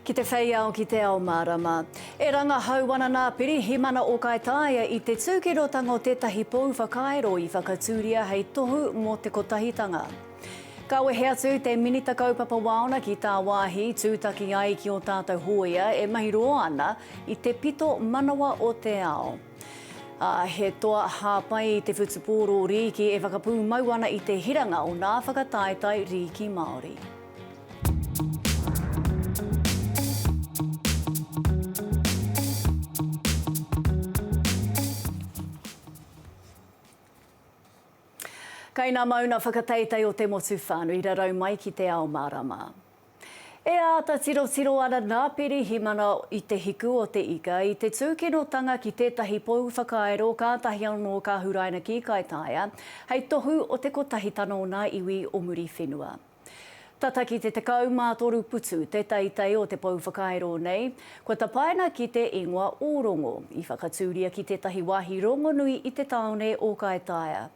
Ki te whei ao ki te ao mārama. E rangahau ana nā Pirihimana o Kaitaia i te tūkinotanga o tētahi pou whakairo i whakatūria hei tohu mō te Kotahitanga. Ka wehe atu te Minita Kaupapa Waona ki tāwāhi i tūtaki ai ki ō tātou hōia e mahi roa ana i te pito manawa o te ao. Ā, he toa hāpai i te whutupōro rīki e whakapūmau ana i te hiranga o ngā whakataetae rīki Māori. Kai ngā mauna whakateitei o te motu whānui rarau mai ki te ao mārama. E āta tirotiro ana nā Pirihimana i te hiku o te ika, i te tūkinotanga ki tētahi pou whakairo kātahi anō ka huraina ki Kaitaia, hei tohu o te kotahitanga o nā iwi o Muriwhenua. Tata ki te 13 putu te teitei o te pou whakairo nei, kua tapaina ki te ingoa o Rongo, i whakatūria ki tētahi wāhi rongonui i te tāone o Kaitaia.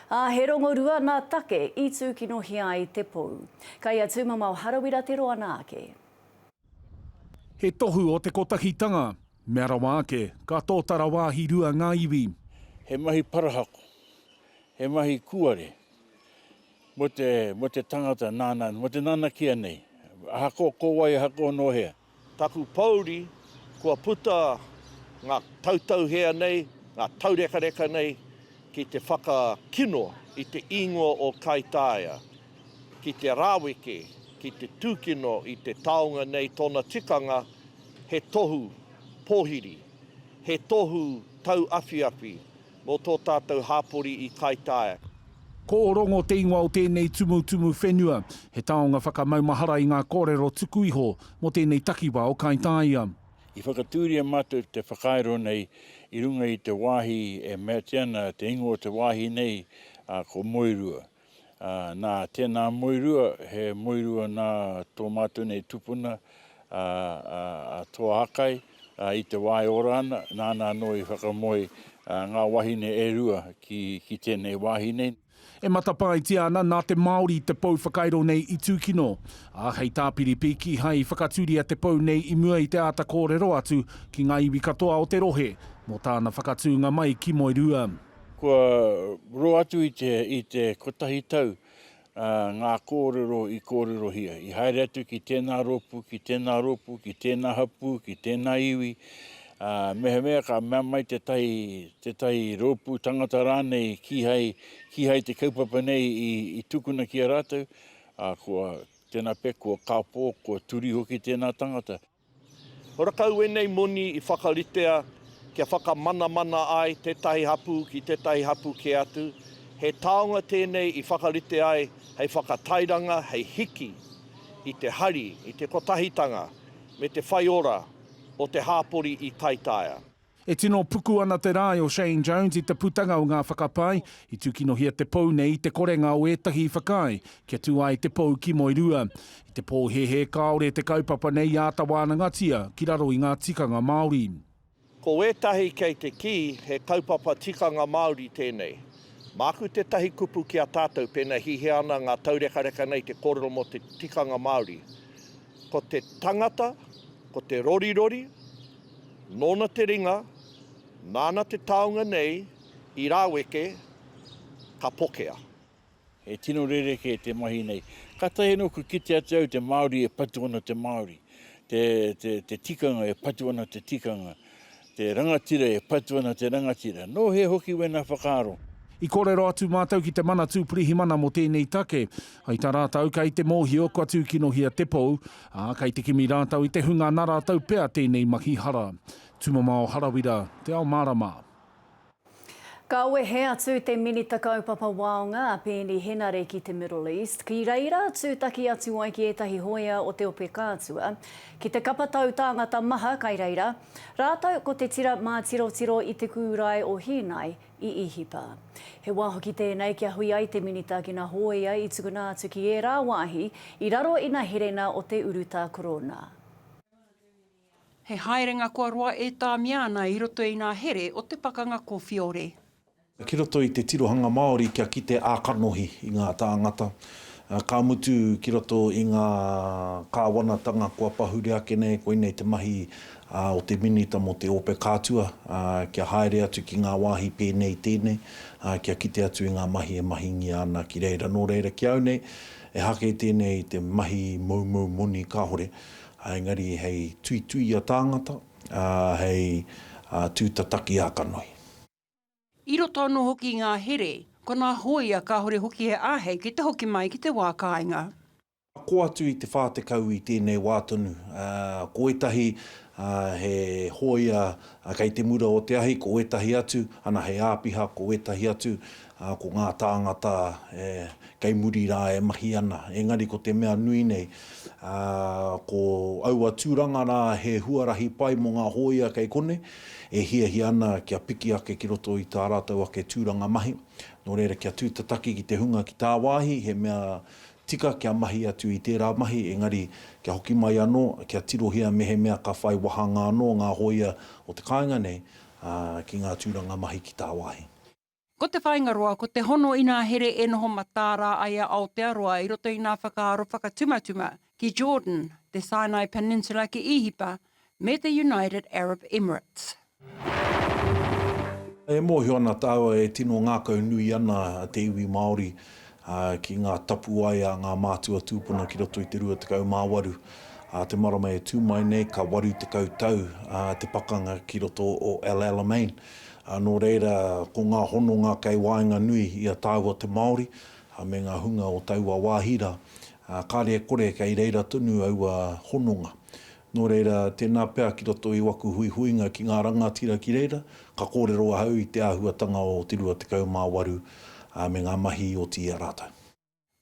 Ā, he rongorua nā Take i tūkinohia ai te pou. Ka ia tūmama o Harawira te roa nā ake. He tohu o te kotahitanga. Mea rawa ake, ka tōtara wāhi rua ngā iwi. He mahi parahako, he mahi kuare mo te, mo te tangata nāna, mo te nanakia nei. Ahakoa ko wai, ahakoa nō hea. Taku pouri, kua puta nga tautauhea nei, nga taurekareka nei ki te whakakino i te ingoa o Kaitaia, ki te raweke, ki te tukino i te taonga nei tona tikanga he tohu pohiri, he tohu tauawhiawhi, Mō tō tātou hāpori i Kaitaia. Ko Ōrongo te ingoa o tēnei tumutumu whenua. He taonga whakamaumahara i ngā kōrero tuku iho mō tēnei takiwā o Kaitaia. I whakatūria mātou te whakairo nei i runga i te wāhi e meatia ana te ingoa o te wāhi nei, ā, ko Moerua. Nā, tēnā muirua, he muirua nā tō mātou nei tupuna a Toa Akai, i te wā e ora ana, nāna anō i whakamoe ngā wahine e rua ki tēnei wāhi nei. E matapaetia ana nā te Māori te pou whakairo nei i tūkino, ā, hei tāpiripi kīhai i whakatūria te pou nei i mua i te āta kōrero atu ki ngā iwi katoa o te rohe mō tāna whakatūnga mai ki Moerua. Kua roa atu i te, i te kotahi tau ngā kōrero i kōrerohia, i haere atu ki tēnā rōpū, ki tēnā rōpū, ki tēnā hapū, ki tēnā iwi, ā, mehemea ka mea mai tētahi, tētahi rōpū tangata rānei kīhai, kīhai te kaupapa nei i, i tukuna ki a rātou, ā, kua, tēnā pea, kua kāpō, kua turi hoki tēnā tangata. Horakau ēnei moni i whakaritea kia whakamanamana ai tētahi hapū ki tētahi hapū kē atu, he taonga tēnei i whakarite ai hei whakatairanga, hei hiki i te hari, i te kotahitanga me te whaiora o te hāpori i Taitaia. E tino puku ana te rae o Shane Jones i te putanga o ngā whakapae i tūkinohia te pou nei i te korenga o ētahi i whakaae kia tū ai te pou ki Moerua. I te pōhēhē kāore te kaupapa nei i āta wānangatia ki raro i ngā tikanga Māori. Ko wētahi kei te kī he kaupapa tikanga Māori tēnei. Māku tētahi kupu ki a tātou pēnā e hihia ana ngā taurekareka nei te kōrero mō te tikanga Māori. Ko te tangata, ko te rorirori, Nōna te ringa, nāna te taunga nei i rāweke, ka pokea. He tino rerekē te mahi nei. Kātahi anō kua kite atu au te Māori e patu ana te Māori, te, te, te tikanga e patu ana te tikanga, te rangatira e patu ana te rangatira. Nō hea hoki wēnā whakaaro? I kōrero atu mātou ki te Manatū Pirihimana mō tēnei take. Hai tā rātou, kei te mōhio kua tūkinohia te pou, Ā, kei te kimi rātou i te hunga nā rātou pea tēnei mahi hara. Tumamao Harawira, Te Ao Mārama. Ka wehe atu te Minita Kaupapa Waonga a Peeni Henare ki te Middle East, ki reira tūtaki atu ai ki ētahi hoea o te Ope Kātua, ki te kapa tau tāngata maha kai reira, rātou ko te tira mātirotiro i te kūrae o Hīnai, i Īhipa. He wā hoki tēnei kia hui ai te minita ki nā Hōea i tukuna atu ki ērā wāhi i raro i nā herena o te urutā korōna. He haerenga kua roa e tāmia ana i roto i nā here o te pakanga kōwhiore. Ki roto i te tirohanga Māori kia kite ā-kanohi i ngā tāngata, ka mutu ki roto i ngā kāwanatanga kua pahure ake nei, koinei te mahi a, o te Minita mō te Ope Kātua, a, kia haere atu ki ngā wāhi pēnei i tēnei, a, kia kite atu i ngā mahi e mahingia ana ki reira. Nō reira, ki au nei, e hake tēnei i te mahi moumou moni kāore, a, engari hei tuituia tāngata, a, hei, a, tūtataki ā-kanohi. I roto anō hoki i ngā here, ko nā hōia kāore hoki he āhei ki te hoki mai ki te wā kāinga. Ako atu i te 40 i tēnei wā tonu, ā, ko ētahi, ā, he hōia kei te mura o te ahi, ko ētahi atu, ana, he āpiha, ko ētahi atu, ā, ko ngā tāngata e, kei muri rā e mahi ana. Engari ko te mea nui nei, ā, ko aua tūranga rā he huarahi pai mō ngā hōia kei konei, e hiahia ana kia piki ake ki roto i tā rātou ake tūranga mahi. Nō reira, kia tū te taki ki te hunga ki tāwāhi, he mea tika kia mahi atu i tērā mahi, engari kia hoki mai anō, kia tirohia mehemea ka whai wāhanga anō ngā hōia o te kāinga nei ki ngā tūranga mahi ki tāwāhi. Ko te whāinga roa, ko te hono inā here e noho mataara ai a Aotearoa i roto i ngā whakaaro whakatumatuma ki Jordan, te Sinai Peninsula ki Īhipa, me te United Arab Emirates. E mōhio ana tāua e tino ngākau nui ana te iwi Māori ki ngā tapuwae a ngā mātua tūpuna ki roto i te 28 a te marama e tū mai nei ka 80 tau te pakanga ki roto o El Alamein Ā, nō reira, ko ngā hononga kei waenganui i a tāua te Māori me ngā hunga o taua wāhi rā, ā, kāre e kore kei reira tonu aua hononga. Nō reira, tēnā pea ki roto i waku huihuinga ki ngā rangatira ki reira, ka kōrero ahau i te āhuatanga o te 28, ā, me ngā mahi oti i a rātou.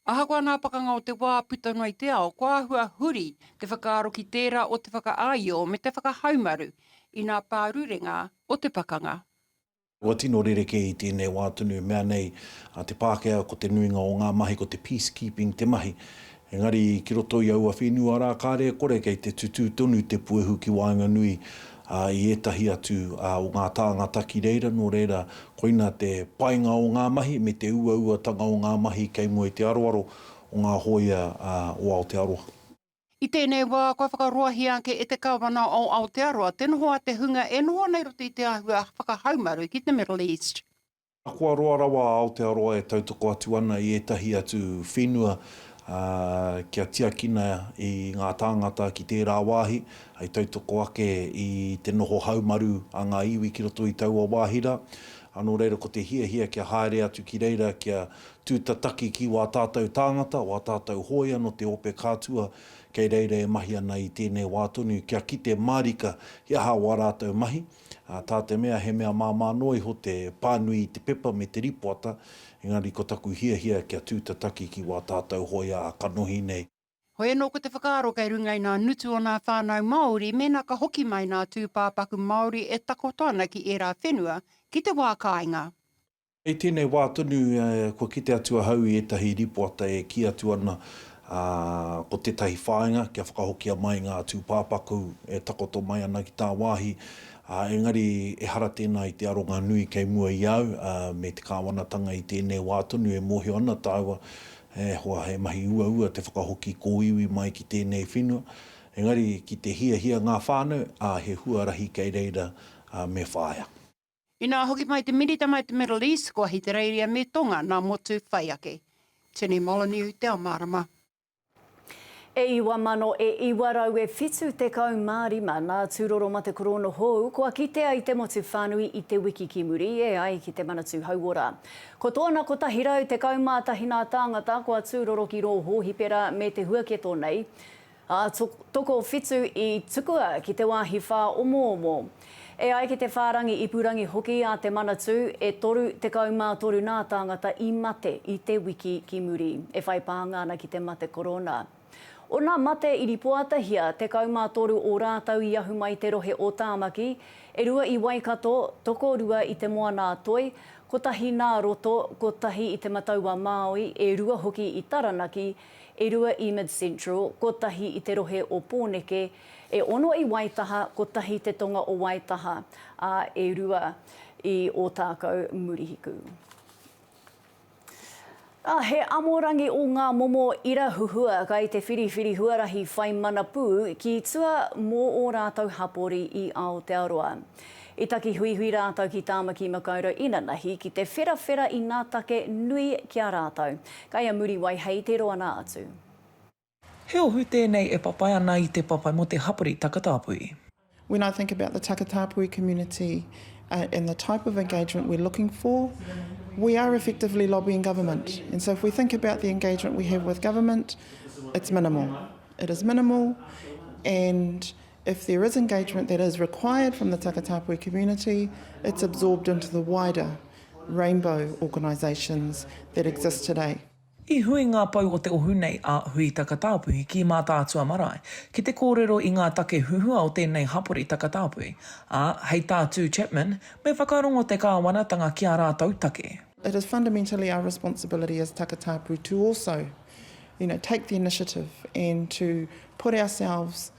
Ahakoa ngā pakanga o te wā puta noa i te ao, kua āhua huri te whakaaro ki tērā o te whakaāio me te whakahaumaru i ngā pārurenga o te pakanga. Kua tino rerekē i tēnei wā tonu i mea nei a Te Pākehā ko te nuinga o ngā mahi ko te peacekeeping te mahi. Engari ki roto i aua whenua rā kāre e kore kei te tutū tonu te puehu ki waenganui ā, i ētahi atu o ngā tāngata ki reira, nō reira, koina te painga o ngā mahi me te uauatanga o ngā mahi kei mua i te aroaro o ngā hōia o Aotearoa. I tēnei wā, kua whakaroahia ake e te Kāwana o Aotearoa te noho a te hunga e noho ana i roto i te āhua whakahaumaru ki te Middle East. Ahakoa roa rawa a Aotearoa e tautoko atu ana i ētahi atu whenua kia tiakina i ngā tāngata ki tērā wāhi, hei tautoko ake i te noho haumaru a ngā iwi ki roto i taua wāhi rā. Nō reira, ko te hiahia kia haere atu ki reira kia tūtataki ki wā tātou tāngata, wā tātou hōia nō te ope kātua kei reira e mahi ana i tēnei wā tonu, kia kite mārika he aha wā rātou mahi. ā, tā te mea he mea māmā noa iho te pānui i te pepa me te rīpoata, engari ko taku hiahia kia tū te taki ki wā tātau hōia ā kanohi nei. Hoi anō ko te whakaaro kei runga i ngā ngutu o ngā whānau Māori mēnā ka hoki mai ngā tūpāpaku Māori e takoto ana ki ērā whenua ki te wā kāinga. Hei tēnei wā tonu kua kite atu ahau i ētahi rīpoata e kī atu ana ko tētahi whāinga kia whakahokia mai ngā tūpāpaku e takoto mai ana ki tāwāhi, engari ehara tēnā i te aronga nui kei mua i a au me te kāwanatanga i tēnei wā tonu e mōhio ana tāua e hoa he mahi uaua te whakahoki kōiwi mai ki tēnei whenua. Engari ki te hiahia ngā whānau, ā, he huarahi kei reira me whāia. Inā hoki mai te Minita mai te Middle East, ko Ahitereiria me Tonga nā motu whai ake. Tene Molyneux te ao mārama. E iwa mano e iwa rau e whitu tekau ma rima na turoro ma te koroono hou kua kitea i te motu whanui i te wiki ki muri e ai ki te Manatu Hauora. Ko toona 111 na taangata kua turoro ki roo hoohipera me te huaketo nei. Ā, tokowhitu i tukua ki te wāhi whāomoomo. E ai ki te whārangi ipurangi hoki a te Manatū, e toru tekau mā toru nā tāngata i mate i te wiki ki muri, e whai pānga ana ki te mate korona. Ōna mate i ripoatahia, tekau mā toru ō rātou i ahu mai te rohe o Tāmaki, e rua i Waikato, tokorua i Te Moana-a-Toi, kotahi nā Roto, kotahi i Te Matau-a-Māui, e rua hoki i Taranaki, e rua i Mid Central, kotahi i te rohe o Pōneke, e ono i Waitaha, kotahi te tonga o Waitaha, ā, e rua i Ōtākou, Murihiku. Ā, he amorangi o ngā momo ira huhua kai te whiriwhiri huarahi whai mana pū ki tua mō ō rātou hapori i Aotearoa. I taki huihui rātou ki Tāmaki Makaurau inanahi ki te wherawhera i ngā take nui ki a rātou. Kai a Muriwai hei te roana atu. He ohu tēnei e papai ana i te papai mo te hapori takatāpui. When I think about the Takatāpui community and the type of engagement we're looking for, we are effectively lobbying government. And so if we think about the engagement we have with government, it's minimal. It is minimal and If there is engagement that is required from the Takatapui community, it's absorbed into the wider rainbow organisations that exist today. I hui ngā pou o te ohu nei a Hui Takatāpui ki Mātaatua marae ki te kōrero i ngā take huhua o tēnei hapori Takatāpui, ā, hei tā Tū Chapman, me whakarongo te kāwanatanga ki ā rātou take. It is fundamentally our responsibility as Takatāpui to also, you know, take the initiative and to put ourselves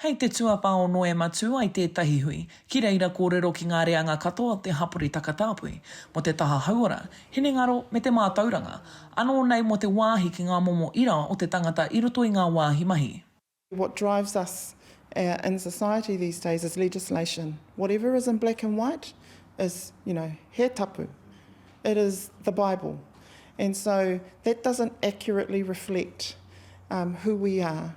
Hei te tuawhā o Noema tū ai tētahi hui ki reira kōrero ki ngā reanga katoa o te hapori takatāpui, mō te taha hauora, hinengaro me te mātauranga, anō nei mō te wāhi ki ngā momo ira o te tangata i roto i ngā wāhi mahi. What drives us in society these days is legislation. Whatever is in black and white is, you know, he tapu. It is the bible. And so that doesn't accurately reflect who we are.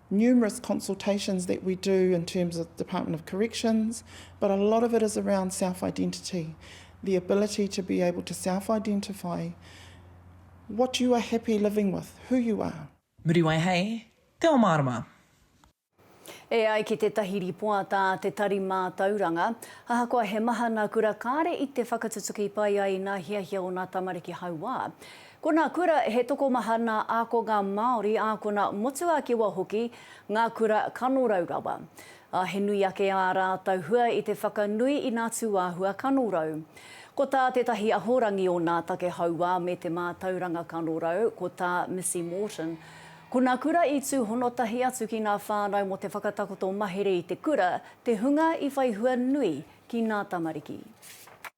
numerous consultations that we do in terms of Department of Corrections, but a lot of it is around self-identity, the ability to be able to self-identify what you are happy living with, who you are. Muriwai hei Te Ao Mārama. E ai ki tētahi rīpoata a Te Tari Mātauranga, ahakoa he mahana kura kāre i te whakatutuki pai ai nā hiahia o nā tamariki hauā, Ko nā kura he tokomaha nā ākonga Māori, ākona motuākewa hoki ngā kura kanorau rawa, ā, he nui ake ā rātou hua i te whakanui i nā tūāhua kanorau. Ko tā tētahi ahorangi o nā take hauā me te mātauranga kanorau, ko tā Missy Morton, Ko nā kura i tūhono tahi atu ki nā whānau mō te whakatakoto mahere i te kura te hunga i whai hua nui ki nā tamariki.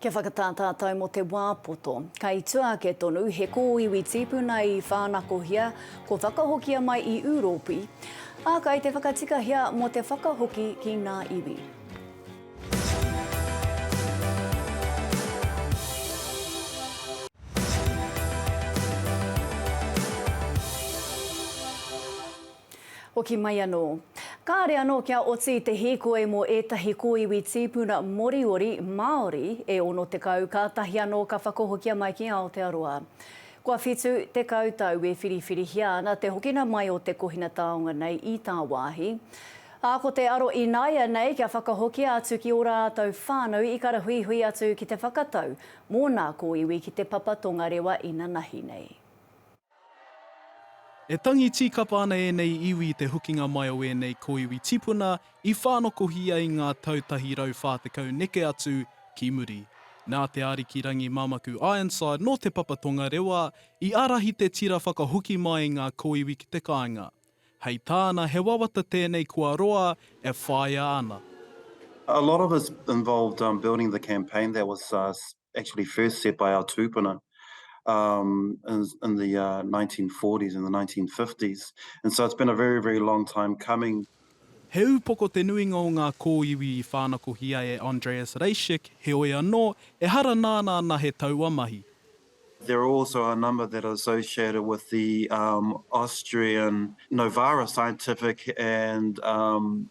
Kia whakatā tātou mō te wā poto. Kei tua ake tonu, he kōiwi tīpuna i whānakohia, kua whakahokia mai i Ūropi, ā, kei te whakatikahia mō te whakahoki ki ngā iwi. Hoki mai anō. Kāre anō kia oti i te hīkoi mō ētahi kōiwi tīpuna Moriori, Māori, e 60 kātahi anō ka whakahokia mai ki Aotearoa. Kua 70 tau e whiriwhirihia ana te hokina mai o te kohina taonga nei i tāwāhi. Ā, ko te aro ināianei kia whakahokia atu ki ō rātou whānau i karahuihui atu ki te whakatau mō nā kōiwi ki te papa tongarewa inanahi nei. E tangi tīkapa ana ēnei iwi i te hokinga mai o ēnei kōiwi tipuna i whānokohi ai ngā tau tahi rau whā tekau neke atu ki muri. Nā Te Ariki Rangi Mamaku Ironside nō Te Papa Tongarewa i ārahi te tira whakahoki mai ngā kōiwi ki te kāinga. Hei tāna he wawata tēnei kua roa e whāia ana. A lot of us involved building the campaign that was actually first set by our tūpuna um, in, in the uh, 1940s and the 1950s. And so it's been a very, very long time coming. He upoko te nuinga o ngā kōiwi i whānakohia e Andreas Reischek, heoi anō, ehara nāna ana he taua mahi. There are also a number that are associated with the um, Austrian Novara Scientific and um,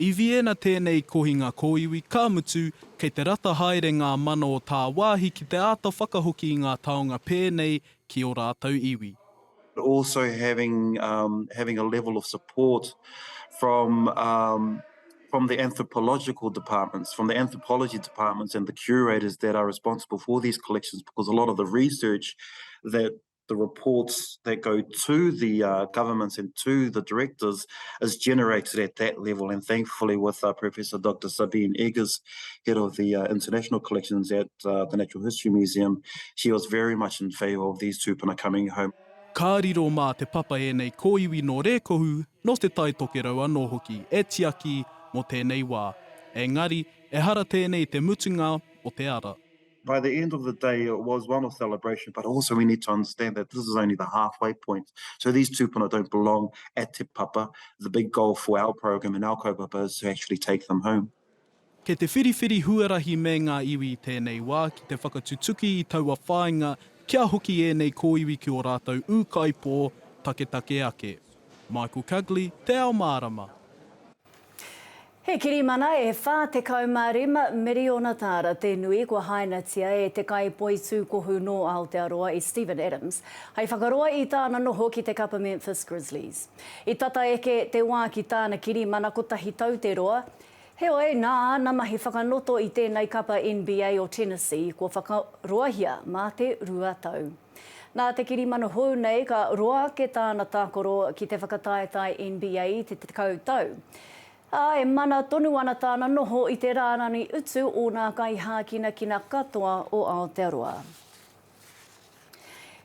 I Vienna tēnei kohinga kōiwi, ka mutu, kei te rata haere ngā mana o tāwāhi ki te āta whakahoki i ngā taonga pēnei ki ō rātou iwi. Also having having a level of support from from the anthropological departments, from the anthropology departments and the curators that are responsible for these collections because a lot of the research that the reports that go to the uh, governments and to the directors is generated at that level. And thankfully, with uh, Professor Dr. Sabine Eggers, head of the uh, international collections at uh, the Natural History Museum, she was very much in favour of these tūpuna coming home. Ka riro mā te papa ēnei kōiwi nō Rēkohu, nō Te Tai Tokerau anō hoki e tiaki mō tēnei wā. Engari, ehara tēnei te mutunga o te ara. By the end of the day, it was one of celebration, but also we need to understand that this is only the halfway point. So these tūpuna don't belong at Te Papa. The big goal for our program and our kaupapa is to actually take them home. Kei te whiriwhiri huarahi me ngā iwi i tēnei wā ki te whakatutuki i taua whāinga kia hoki ēnei kōiwi ki ō rātou ūkaipō taketake ake. Michael Cugley, Te Ao Mārama. He kirimana e 45 miriona tāra te nui kua hainatia e te kaipoitūkohu nō Aotearoa i Steven Adams hai whakaroa i tāna noho ki te kapa Memphis Grizzlies. I tata eke te wā ki tāna kirimana kotahi tau te roa, heoi nā āna mahi whakanoto i tēnei kapa NBA o Tennessee kua whakaroahia mā te rua tau. Nā te kirimana hou nei ka roa ake tāna tākaro ki te whakataetae NBA i te tekau tau. Ā, e mana tonu ana tāna noho i te rārani utu o nā kaihākinakina katoa o Aotearoa.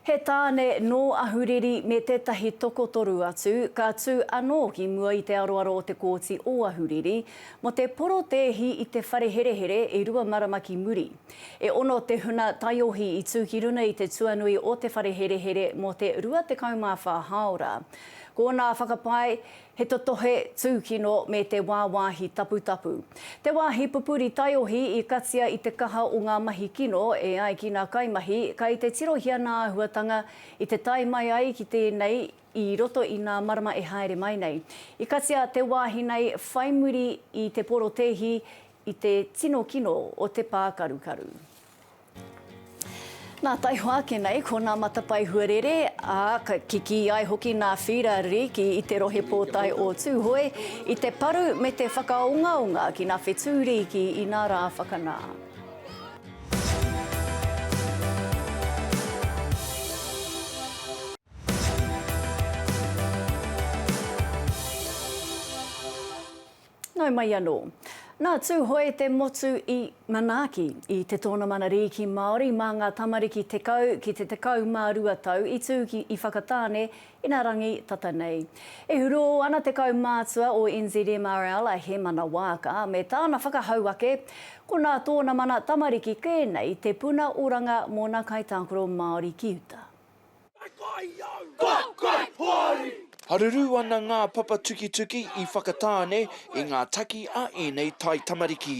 He tāne nō Ahuriri me tētahi tokotoru atu ka tū anō ki mua i te aroaro o te Kōti o Ahuriri mō te porotēhi i te whare herehere e rua marama ki muri. E ono te huna taiohi i tū ki runga i te tuanui o te whare herehere mō te 24 hāora. Ko ōnā whakapae, he totohe, tūkino me te wāwāhi taputapu. Te wāhi pupuri taiohi i katia i te kaha o ngā mahi kino e ai ki ngā kaimahi kai te tirohia ngā āhuatanga i te tae mai ai ki tēnei i roto i ngā marama e haere mai nei. I katia te wāhi nei whai muri i te porotēhi i te tino kino o te pākarukaru. Nā Taiho ake nei ko nā matapae huarere, ā, ka kikī ai hoki nā Whīra Riki i te Rohe Pōtae o Tūhoe i te paru me te whakaongaonga ki nā Whetū Riki i nā rā whakanā. Nau mai anō. Nā Tūhoe te motu i manaaki i te Tōnamana Rīki Māori mā ngā tamariki tekau ki te tekau mā rua tau i tū ki i Whakatāne ina rangi tata nei. E hurō ana te kaumātua o NZMRL a Hemana Waaka me tāna whakahau ake ko nā tōna mana tamariki pēnei te puna oranga mōna kaitākaro Māori ki uta. Haruru ana ngā papa tukituki i Whakatāne i ngā taki a ēnei taitamariki.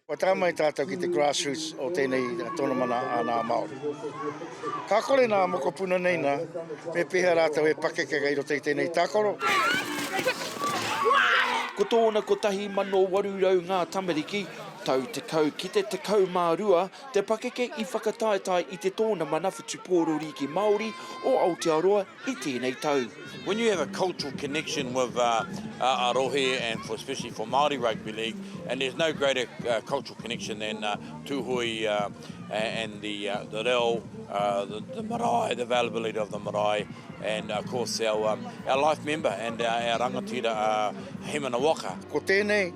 Kua tae mai tātou ki te grassroots o tēnei tonomana a nā Māori. Ka kore nā mokopuna nei nā, me pēhea rātou e pakekeka i roto i tēnei tākaro? Ko tōna 1,800 ngā tamariki, tau 10 ki te 12, Te pakeke i whakataetae i te tōnamana whutupōro rīki Māori o Aotearoa i tēnei tau. When you have a cultural connection with a rohe and for especially for Māori Rugby League and there's no greater cultural connection than Tūhoe and the reo, the marae, the availability of the marae and of course our life member and our rangatira Hemana Waka. Ko tēnei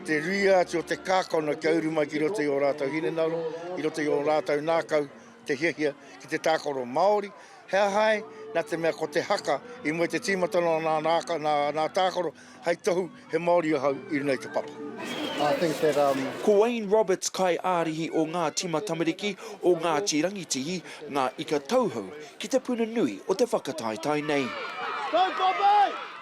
Te ruia atu o te kākano kia uru mai ki roto i ō rātou hinengaro, ki roto i ō rātou ngākau te hiahia ki te tākaro Māori. He aha ai, nā te mea ko te haka i mua i te tīmatanga o nā ngākau, nā, nā tākaro, hei tohu he Māori ahau i runga i te papa. I think that, um. Ko Wayne Roberts kai ārihi o ngā tima tamariki o Ngāti Rangitihi, Ngā Ika Tauhou, ki te puna nui o te whakataetae nei. Go Poppy!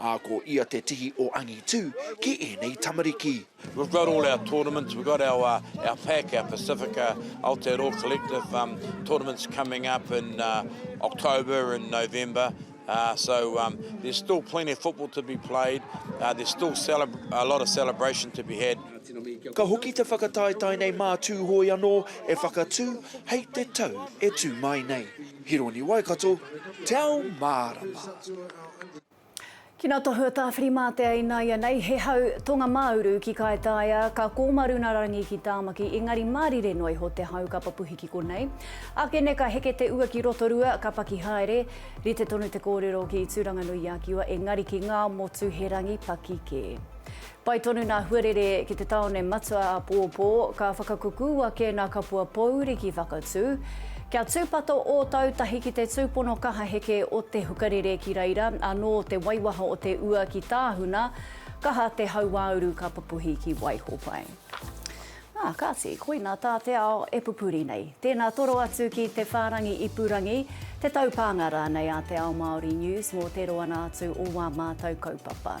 Ā, ko ia te tihi o angitu ki ēnei tamariki. We've got all our tournaments, we've got our our pac, our Pasifika Aotearoa collective um tournaments coming up in uh October and November uh so um there's still plenty of football to be played, uh there's still a lot of celebration to be had. Ka hoki te whakataetae nei mā Tūhoe anō e whakatū hei te tau e tū mai nei. Hironi Waikato, Te Ao Mārama. Ki na Tohua Tawhirimātea inaianei he hau Tonga-mā-uru ki Kaitaia, ka Kōmarunarangi ki Tāmaki engari mārire noa iho te hau ka papuhi ki konei. Ake nei ka heke te ua ki Rotorua, ka paki haere. Rite tonu te kōrero ki Tūranganui-a-Kiwa engari ki Ngāmotuherangi paki kē. Pai tonu nā Huarere ki te tāone matua a Pōpō, ka whakakuku ake nā Kapua Pōuri ki Whakatū. Kia tūpato ō tau tahi ki te tūpono kaha heke o Te Hukarere ki reira anō te waiwaha o te ua ki Tāhuna, kaha te hauāuru ka pupuhi ki Waihopai. Ā, kāti, koinā tā te ao e pupuri nei. Tēnā toro atu ki te whārangi ipurangi, te taupānga rānei a Te Ao Māori News mō te roanga atu o wā mātau kaupapa.